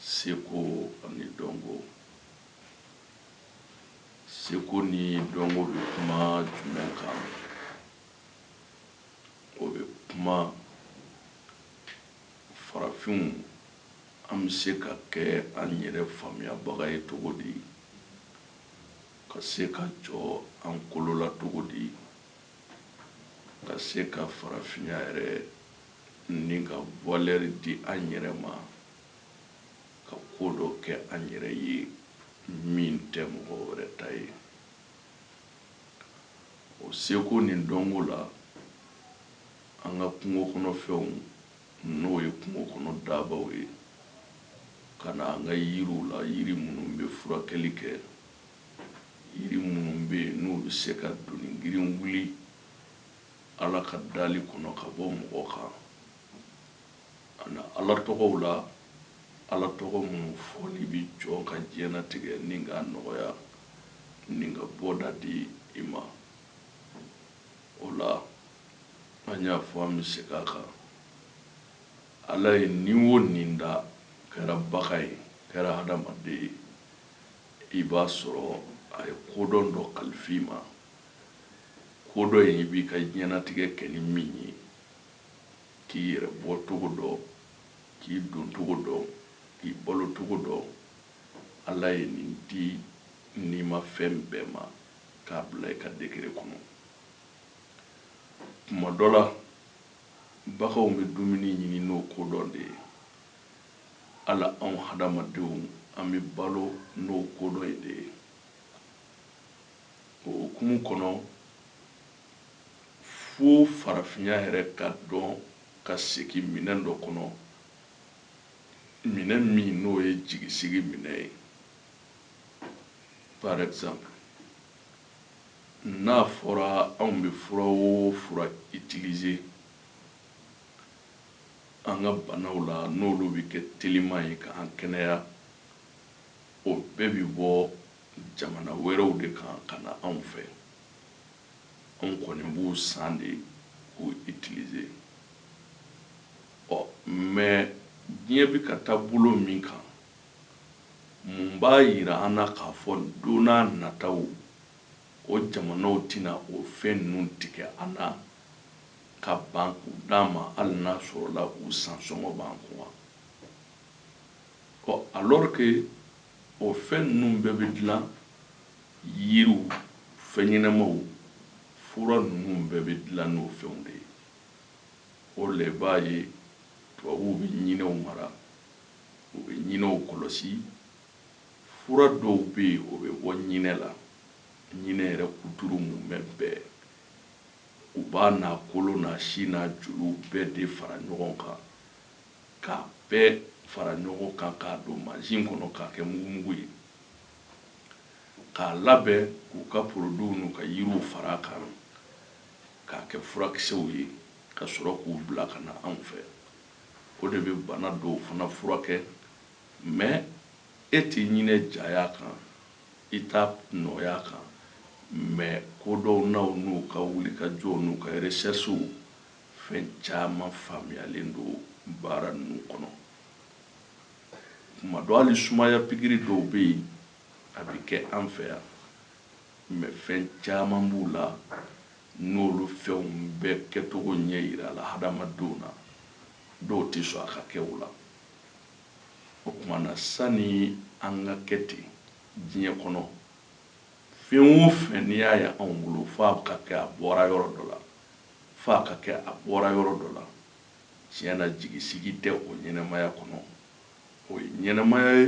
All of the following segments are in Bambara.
seko ani dɔnko seko ni dɔnko bɛ kuma jumɛn kan o bɛ kuma farafinw an bɛ se ka kɛ an yɛrɛ faamuyabaga ye cogo di ka se ka jɔ an kolo la cogo di ka se ka farafinya yɛrɛ ni ka valeur di an yɛrɛ ma ka ko dɔ kɛ an yɛrɛ ye min tɛ mɔgɔ wɛrɛ ta ye o seko ni dɔnko la an ka kungo kɔnɔ fɛnw n'o ye kungo kɔnɔ daabaw ye ka na an ka yiriw la yiri minnu bɛ furakɛli kɛ Yiri minnu bɛ yen n'u bɛ se ka doni girin wuli Ala ka dali kɔnɔ ka bɔ mɔgɔ kan, ka na Ala tɔgɔw la, Ala tɔgɔ minnu fɔli bɛ jɔn ka diɲɛlatigɛ ni k'a nɔgɔya ni ka bɔda di i ma. O la, an y'a fɔ an bɛ segin a kan, Ala ye ni o ni da, kɛra bagan ye, kɛra hadamaden ye, i b'a sɔrɔ a ye kodɔn dɔ kalifa i ma, kodɔn in i b'i ka diɲɛnatigɛ kɛ ni min ye, k'i yɛrɛ bɔcogo dɔn, k'i doncogo dɔn, k'i balocogo dɔn, Ala ye nin di nimafɛn bɛɛ ma k'a bila i ka degré kɔnɔ. Tuma dɔ la, baganw bɛ dumuni ɲini n'o kodɔn de ye. hali anw hadamadenw an bɛ balo n'o kodɔn in de ye o hukumu kɔnɔ fo farafinya yɛrɛ ka dɔn ka segin minɛn dɔ kɔnɔ minɛn min n'o ye jigisigi minɛn ye par exemple n'a fɔra anw bɛ fura o fura utiliser an ka banaw la n'olu bɛ kɛ teliman ye ka an kɛnɛya, o bɛɛ bɛ bɔ jamana wɛrɛw de kan ka na anw fɛ. Anw kɔni b'u san de k'u utiliser. Ɔ mais diɲɛ bɛ ka taa bolo min kan, mun b'a jira an na k'a fɔ don nataw o jamanaw tɛna o fɛn ninnu tigɛ an na? ka ban k'u d'an ma hali n'a sɔrɔla u san sɔngɔ b'an kun wa? Ɔ alors que o fɛn ninnu bɛɛ bɛ dilan yiriw, fɛnɲɛnamaw, fura ninnu bɛɛ bɛ dilan n'o fɛnw de ye. O la i b'a ye tubabuw bɛ ɲinɛw mara, u bɛ ɲinɛw kɔlɔsi, fura dɔw bɛ yen o bɛ bɔ ɲinɛ la, ɲinɛ yɛrɛ kuturu mumɛ bɛɛ. U b'a n'a kolo n'a si n'a joliw bɛɛ de fara ɲɔgɔn kan, k'a bɛɛ fara ɲɔgɔn kan k'a don mansin kɔnɔ k'a kɛ mugumugu ye, k'a labɛn k'u ka produits n'u ka yiriw fara a kan k'a kɛ furakisɛw ye, ka sɔrɔ k'u bila ka na anw fɛ. O de bɛ bana dɔw fana furakɛ, mais e tɛ ɲinɛ jaya kan. i t'a nɔgɔya kan mais kodɔnnaw n'u ka wulikajɔw n'u ka recherches fɛn caman faamuyalen don baara ninnu kɔnɔ tuma dɔ hali sumaya pikiri dɔw bɛ yen a bɛ kɛ an fɛ yan mais fɛn caman b'u la n'olu fɛnw bɛɛ kɛcogo ɲɛ yirala hadamadenw na dɔw tɛ sɔn a ka kɛ u la o tuma na sani an ka kɛ ten diɲɛ kɔnɔ fɛn o fɛn n'i y'a ye anw bolo f'a ka kɛ a bɔra yɔrɔ dɔ la f'a ka kɛ a bɔra yɔrɔ dɔ la tiɲɛ na jigisigi tɛ o ɲɛnɛmaya kɔnɔ o ye ɲɛnɛmaya ye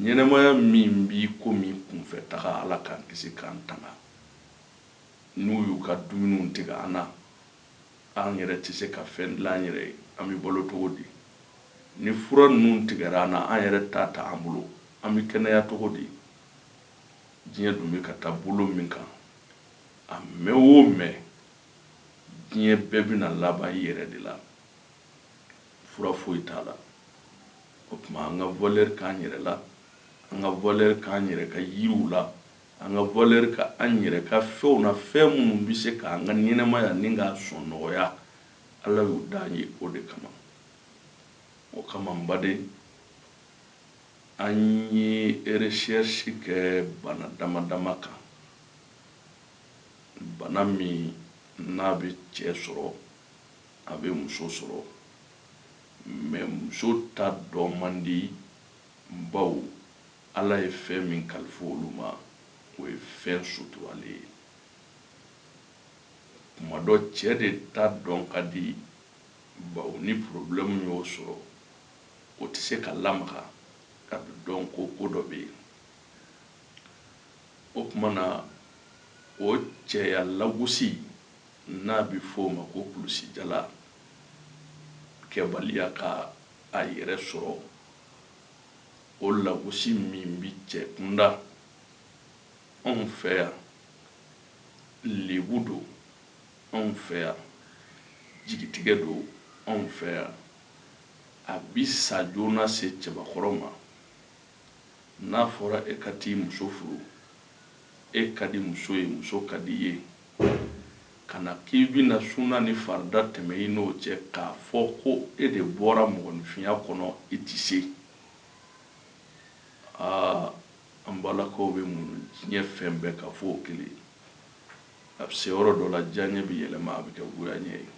ɲɛnɛmaya min b'i komi kunfɛtaga ala k'an kisi k'an tanga n'u y'u ka dumuniw tigɛ an na An yɛrɛ tɛ se ka fɛn dilan an yɛrɛ ye, an bɛ balo cogo di? Ni fura ninnu tigɛra an na, an yɛrɛ t'a ta an bolo, an bɛ kɛnɛya cogo di? Diɲɛ dun bɛ ka taa bolo min kan, a mɛn o mɛn, diɲɛ bɛɛ bɛna laban i yɛrɛ de la. Fura foyi t'a la. O tuma an ka valeur k'an yɛrɛ la, an ka valeur k'an yɛrɛ ka yiriw la. An ka valeur k'an yɛrɛ ka fɛnw na fɛn minnu bɛ se ka an ka ɲɛnamaya nin k'a sɔn nɔgɔya Ala y'u da an ye o de kama. O kama n baden an ye recherche kɛ bana dama dama kan bana min n'a bɛ cɛ sɔrɔ a bɛ muso sɔrɔ mais muso ta dɔn man di bawo Ala ye fɛn min kalifa olu ma, o ye fɛn suturalen ye. Kuma dɔ, cɛ de ta dɔn ka di, bawo ni porobilɛmu y'o sɔrɔ, o tɛ se ka lamaga, a bɛ dɔn ko ko dɔ bɛ yen. O tuma na, o cɛya lagosi, n'a bɛ fɔ o ma ko kulusijala, kɛbaliya ka a yɛrɛ sɔrɔ, o lagosi min bi cɛ kunda anw fɛ yan lebu don anw fɛ yan jigitigɛ don anw fɛ yan a bi sa joona se cɛbakɔrɔ ma n'a fɔra e ka t'i muso furu e ka di muso ye, muso ka di i ye, ka na k'i bɛna sunna ni farida tɛmɛ i n'o cɛ k'a fɔ ko e de bɔra mɔgɔninfinya kɔnɔ i tɛ se, aa an balakaw bɛ muɲu diɲɛ fɛn bɛɛ kan f'o kelen, a bɛ se yɔrɔ dɔ la diyaɲɛ bɛ yɛlɛma a bɛ kɛ goyaɲɛ ye,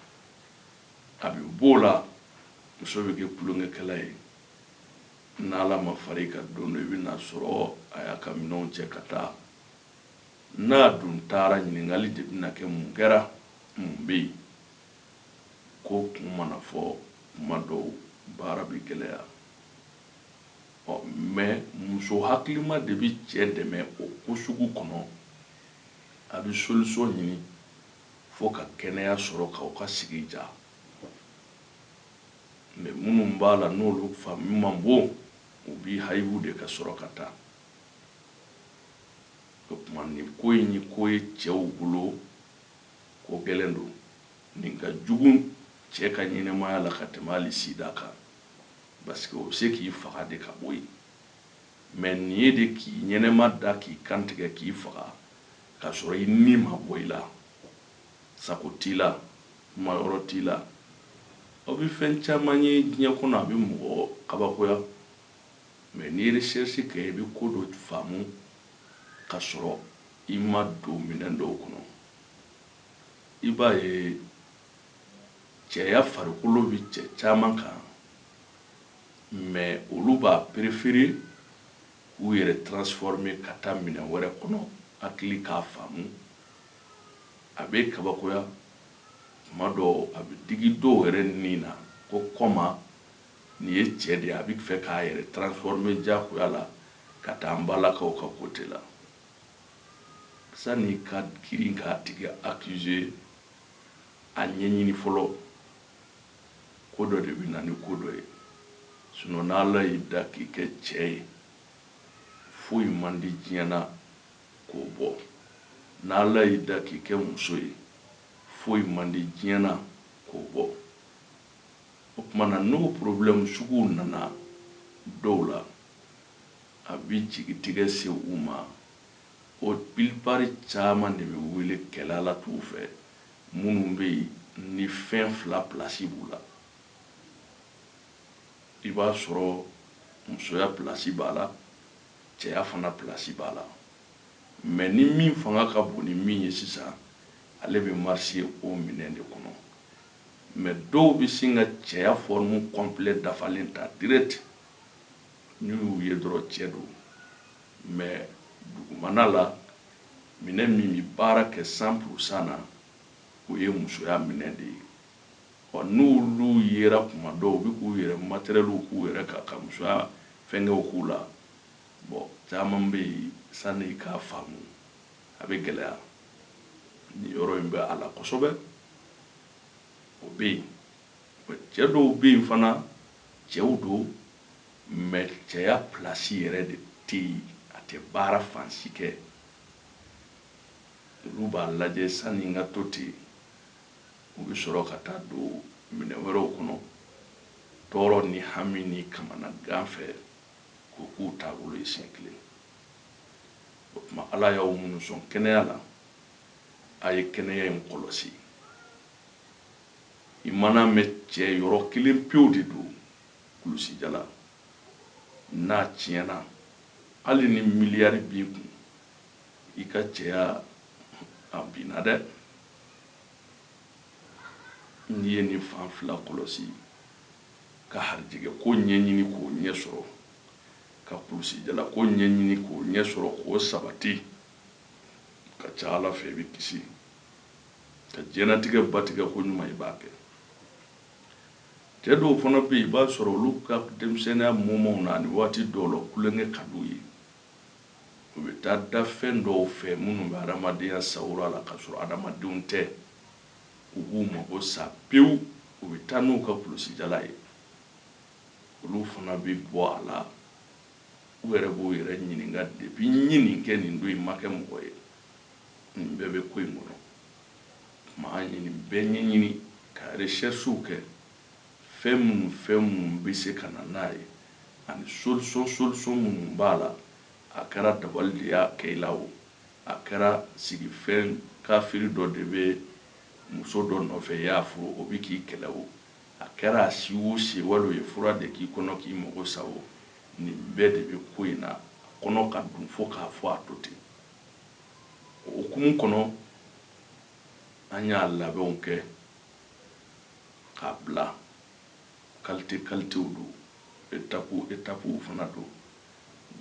a bɛ b'o la muso bɛ kɛ tulonkɛkɛla ye, Ni Ala ma fara i kan don dɔ, i bɛ na a sɔrɔ a y'a ka minɛnw cɛ ka taa. N'a dun taara, ɲininkali de bɛna kɛ, Mun kɛra? Mun bɛ yen? Ko kun mana fɔ, kuma dɔw, baara bɛ gɛlɛya. Ɔ, mais muso hakilima de bɛ cɛ dɛmɛ o ko sugu kɔnɔ. A bɛ solution ɲini fo ka kɛnɛya sɔrɔ, k'aw ka sigi diya. Mais minnu b'a la n'olu faamu man bon, u b'i hayibu de ka sɔrɔ ka taa. O tuma nin ko in ye ko ye cɛw bolo, ko gɛlɛn don. Nin ka jugu cɛ ka ɲɛnamaya la ka tɛmɛ hali sida kan. Parce que o bɛ se k'i faga de ka bɔ yen. Mais nin ye de k'i ɲɛnama da, k'i kantigɛ, k'i faga, k'a sɔrɔ i ni ma bɔ i la. Sago t'i la, kumayɔrɔ t'i la. Aw bɛ fɛn caman ye diɲɛ kɔnɔ, a bɛ mɔgɔ kabakoya, mais n'i ye recherche kɛ, i bɛ ko dɔ faamu k'a sɔrɔ i ma don minɛn dɔw kɔnɔ. I b'a ye cɛya farikolo bɛ cɛ caman kan, mais olu b'a préférer k'u yɛrɛ transformer ka taa minɛn wɛrɛ kɔnɔ, hakili k'a faamu. a bɛ kabakoya tuma dɔ a bɛ digi dɔw yɛrɛ ni na ko kɔma nin ye cɛ de ye a bɛ fɛ k'a yɛrɛ transformer diyagoya la ka taa an balakaw ka côté la sani ka girin k'a tigi accuser a ɲɛɲini fɔlɔ ko dɔ de bɛ na ni ko dɔ ye sinon n'ala y'i da k'i kɛ cɛ ye foyi man di diɲɛ na k'o bɔ. Ni Ala y'i da k'i kɛ muso ye, foyi man di diɲɛ na k'o bɔ. O tuma na n'o porobilɛmu suguw nana dɔw la, a bɛ jigitigɛ se u ma. O pilipari caman de bɛ wele kɛlɛalatuw fɛ, minnu bɛ yen ni fɛn fila pilasi b'u la. I b'a sɔrɔ musoya pilasi b'a la. cɛya fana pilasi b'a la mɛ ni min fanga ka bon ni min ye sisan ale bɛ marcher o minɛn de kɔnɔ mɛ dɔw bɛ sin ka cɛya fɔrimu kɔnpilɛ dafalen ta dirɛti n'i y'u ye dɔrɔn cɛ don mɛ dugumana la minɛn min bɛ baara kɛ san purusan na o ye musoya minɛn de ye ɔ n'olu yera tuma dɔw u bɛ k'u yɛrɛ matɛrɛliw k'u yɛrɛ kan ka musoya fɛnkɛw k'u la bɔn caman bɛ yen sanni i k'a faamu a bɛ gɛlɛya nin yɔrɔ in bɛ a la kosɛbɛ o bɛ yen bɔn cɛ dɔw bɛ yen fana cɛw don mɛ cɛya pilasi yɛrɛ de tɛ yen a tɛ baara fan si kɛ olu b'a lajɛ sanni n ka to ten u bɛ sɔrɔ ka taa don minɛn wɛrɛw kɔnɔ tɔɔrɔ ni hami ni kamanagan fɛ k'o k'u taabolo ye siɲɛ kelen o tuma ala y'aw minnu sɔn kɛnɛya la a ye kɛnɛya in kɔlɔsi i mana mɛn cɛ yɔrɔ kelen pewu de don kulusijala n'a tiɲɛna hali ni miliyari b'i kun i ka cɛya a binna dɛ n'i ye nin fan fila kɔlɔsi ka harijɛgɛ ko ɲɛɲini k'o ɲɛ sɔrɔ ka kulusijala ko ɲɛɲini k'o ɲɛ sɔrɔ k'o sabati ka ca ala fɛ i bɛ kisi ka diɲɛnatigɛ batigɛ koɲuman i b'a kɛ cɛ dɔw fana bɛ yen i b'a sɔrɔ olu ka denmisɛnninya moment na ani waati dɔw la tulonkɛ ka d'u ye u bɛ taa da fɛn dɔw fɛ minnu bɛ adamadenya sawura la ka sɔrɔ adamadenw tɛ u b'u mago sa pewu u bɛ taa n'u ka kulusijala ye olu fana bɛ bɔ a la u yɛrɛ b'u yɛrɛ ɲininka depi n ye nin kɛ nin don in n ma kɛ mɔgɔ ye nin bɛɛ bɛ ko in kɔnɔ o tuma an ye nin bɛɛ ɲɛɲini ka recherches kɛ Fɛn minnu fɛn minnu bɛ se ka na n'a ye ani solution solution minnu b'a la, a kɛra dabali de y'a kɛ i la o, a kɛra sigifɛn kafiri dɔ de bɛ muso dɔ nɔfɛ i y'a furu o bɛ k'i kɛlɛ o, a kɛra a si o si ye wali o ye fura de k'i kɔnɔ k'i mago sa o, nin bɛɛ de bɛ ko in na, a kɔnɔ ka dun fo k'a fɔ a to ten. O hukumu kɔnɔ, an y'a labɛnw kɛ. k'a bila kalite kalitew don etapu etapuw fana don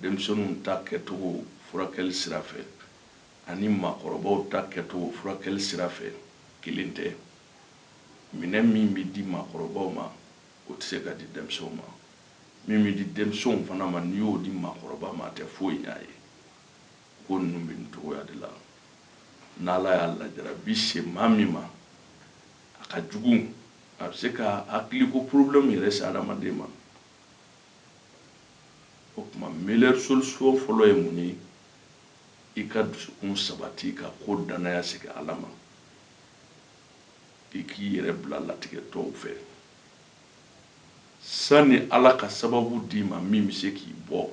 denmisɛnninw ta kɛcogo furakɛli sira fɛ ani maakɔrɔbaw ta kɛcogo furakɛli sira fɛ kelen tɛ minɛn min bɛ di maakɔrɔbaw ma o tɛ se ka di denmisɛnw ma min bɛ di denmisɛnw fana ma n'i y'o di maakɔrɔba ma a tɛ foyi ɲɛ a ye ko ninnu bɛ nin cogoya de la n'ala y'a lajarabi se maa min ma A ka jugu, a bɛ se ka hakiliko problème yɛrɛ se hadamaden ma. O tuma meilleure solution fɔlɔ ye mun ye? I ka dusukun sabati, ka ko dannaya segin Ala ma, i k'i yɛrɛ bila latigɛ tɔw fɛ sani Ala ka sababu d'i ma min bɛ se k'i bɔ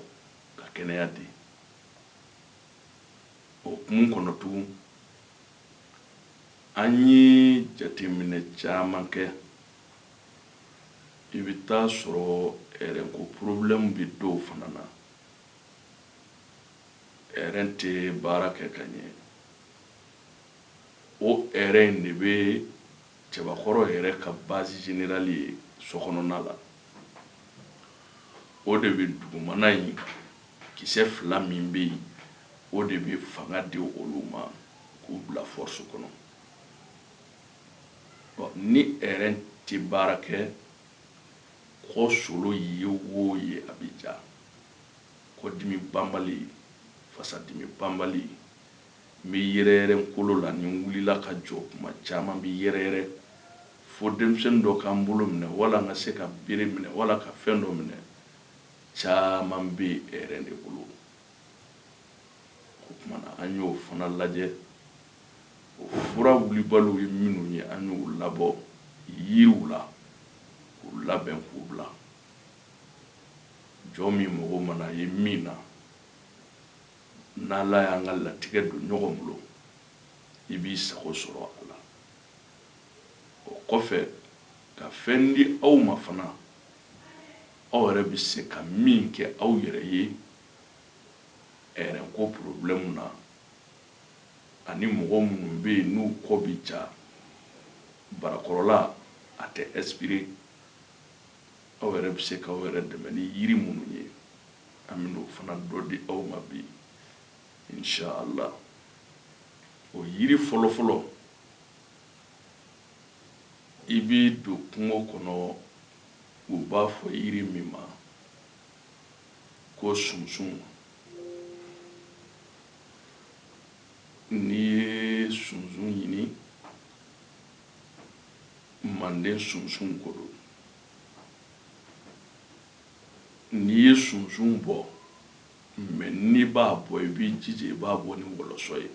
ka kɛnɛya di. O hukumu kɔnɔ tugun, an ye jateminɛ caman kɛ i bɛ t'a sɔrɔ rɛn ko porobilɛmu bɛ dɔw fana na rɛn tɛ baara kɛ ka ɲɛ o rɛn in de bɛ cɛbakɔrɔ yɛrɛ ka bazi zenerali ye sokɔnɔna la o de bɛ dugumana in Kisɛ fila min bɛ yen, o de bɛ fanga di olu ma k'u bila force kɔnɔ. Ɔ ni rein tɛ baara kɛ, kɔ solo ye o ye a bɛ ja. Kɔdimi banbali, fasadimi banbali, n bɛ yɛrɛyɛrɛ n kolo la, ni n wulila ka jɔ tuma caman n bɛ yɛrɛyɛrɛ fo denmisɛnnin dɔ ka n bolo minɛ wala n ka se ka bere minɛ wala ka fɛn dɔ minɛ. caman bɛ ɛrɛn de bolo o tuma na an y'o fana lajɛ o fura wulibaliw ye minnu ye an y'u labɔ yiriw la k'u labɛn k'u bila jɔn min mago mana ye min na n'ala y'an ka latigɛ don ɲɔgɔn bolo i b'i sago sɔrɔ a la o kɔfɛ ka fɛn di aw ma fana Aw yɛrɛ bɛ se ka min kɛ aw yɛrɛ ye ɛrɛnko porobilɛmu na ani mɔgɔ minnu bɛ yen n'u kɔ bɛ ja barakɔrɔla a tɛ ɛsipire aw yɛrɛ bɛ se k'aw yɛrɛ dɛmɛ ni yiri minnu ye an bɛ n'o fana dɔ di aw ma bi inshallah o yiri fɔlɔfɔlɔ i bɛ don kungo kɔnɔ U b'a fɔ yiri min ma ko sunsun n'i ye sunsun ɲini manden sunsun ko don n'i ye sunsun bɔ mɛ n'i b'a bɔ i b'i jija i b'a bɔ ni wɔlɔsɔ ye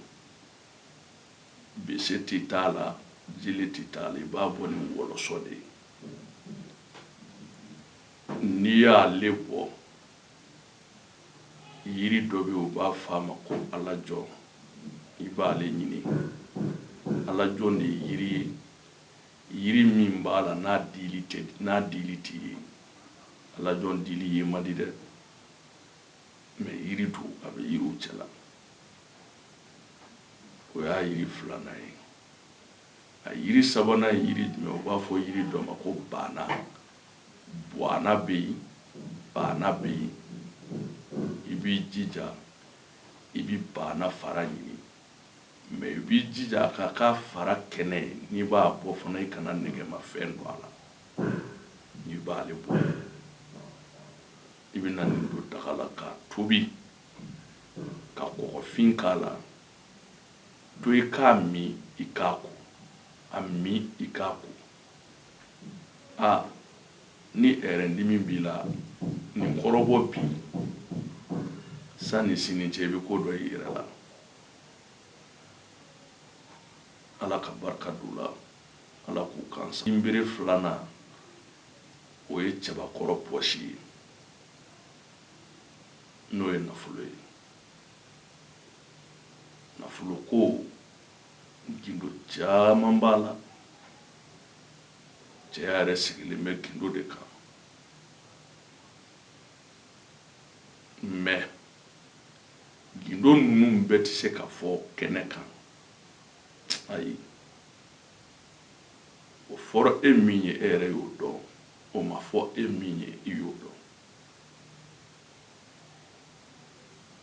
bese tɛ t'a la jele tɛ t'a la i b'a bɔ ni wɔlɔsɔ de ye n'i y'ale bɔ yiri dɔ bɛ yen u b'a fɔ a ma ko alajɔ i b'ale ɲini alajɔ de ye yiri ye yiri min b'a la n'a dili tɛ ye alajɔ dili ye man di dɛ mɛ yiri don a bɛ yiriw cɛla o y'a yiri filanan ye A yiri sabanan ye yiri jumɛn? U b'a fɔ yiri dɔ ma ko baana. Buana bɛ yen, baana bɛ yen. I b'i jija i bɛ baana fara ɲini mais i b'i jija a ka k'a fara kɛnɛ ye. N'i b'a bɔ fana, i kana nɛgɛmafɛn don a la. N'i b'ale bɔ, i bɛna nin don daga la k'a tobi, ka kɔgɔfin k'a la. To i k'a min i k'a ko a min i k'a ko a ni ɛrɛndimi b'i la nin kɔrɔbɔ bi sanni sini cɛ i bɛ ko dɔ y'i yɛrɛ la ala ka barika don a la ala k'u kansa nbere filanan o ye cɛbakɔrɔ pɔsi ye n'o ye nafolo ye nafolo ko gindo caman b'a la cɛya yɛrɛ sigilen bɛ gindo de kan mɛ gindo ninnu bɛɛ tɛ se ka fɔ kɛnɛ kan ayi o fɔra e min ye e yɛrɛ y'o dɔn o ma fɔ e min ye i y'o dɔn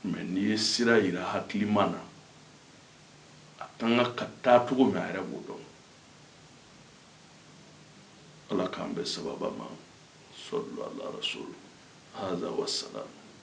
mɛ n'i ye sira yira hakilima na a ka kan ka taa cogo min a yɛrɛ b'o dɔn ala k'an bɛn sababa ma salu ala rasul haza wasalam